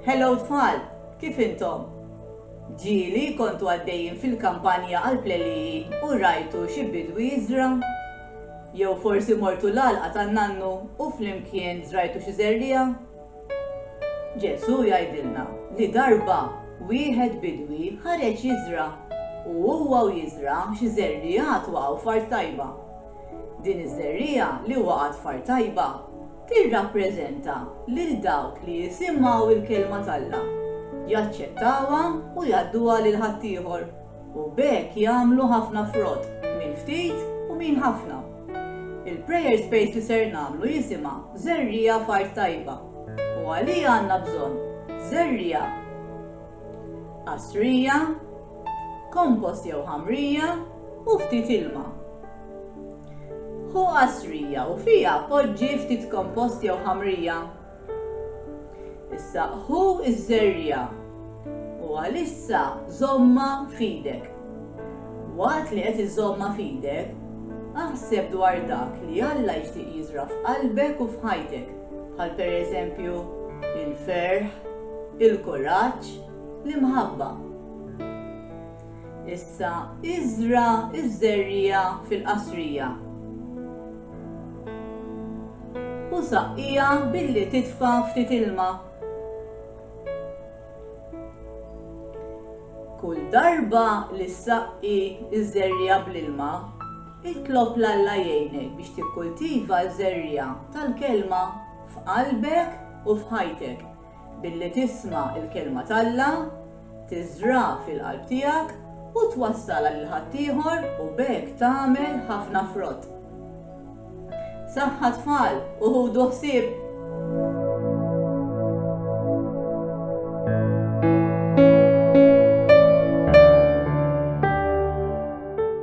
Hello tfal, kif intom? Ġieli kontu għaddejjin fil-kampanja għall-pleliji u rajtu xi bidwi jiżra'? Jew forsi mortu l-għalqa tan-nannu u flimkien żrajtu xi żerriegħa? Ġesù jgħidilna li darba wieħed bidwi ħareġ jiżra' u huwa u jiżra' xi żerriegħat waqgħu f'art tajba. Din iż-żerriegħa li waqgħet f'art tajba Tirrappreżenta lil dawk li jisimgħu l-Kelma t'Alla, jaċċettawha u jgħadduha lil ħaddieħor, u b'hekk jagħmlu ħafna frott, min ftit u min ħafna. Il-prayer space li ser nagħmlu jisimha Żerriegħa f'Art Tajba, u għaliha għandna bżonn żerriegħa qasrija, kompost jew ħamrija, u ftit ilma. Ħu qasrija u fiha poġġi ftit kompost jew ħamrija. Issa ħu ż-żerriegħa u għalissa żommha f'idek. Waqt li qed iżommha f'idek, aħseb dwar dak li Alla jixtieq jiżra' f'qalbek u f'ħajtek, bħal pereżempju il-ferħ, il-kuraġġ, l-imħabba. Issa iżra' ż-żerriegħa fil-qasrija u saqqiha billi titfa' ftit ilma. Kull darba li ssaqqi ż-żerriegħa bl-ilma, itlob 'l Alla jgħinek biex tikkultiva ż-żerriegħa tal-Kelma f'qalbek u f'ħajtek. Billi tisma' l-Kelma t'Alla, tiżra' fil-qalb tiegħek u twassalha lil ħaddieħor u b'hekk tagħmel ħafna frott. Saħħa tfal u ħudu ħsieb!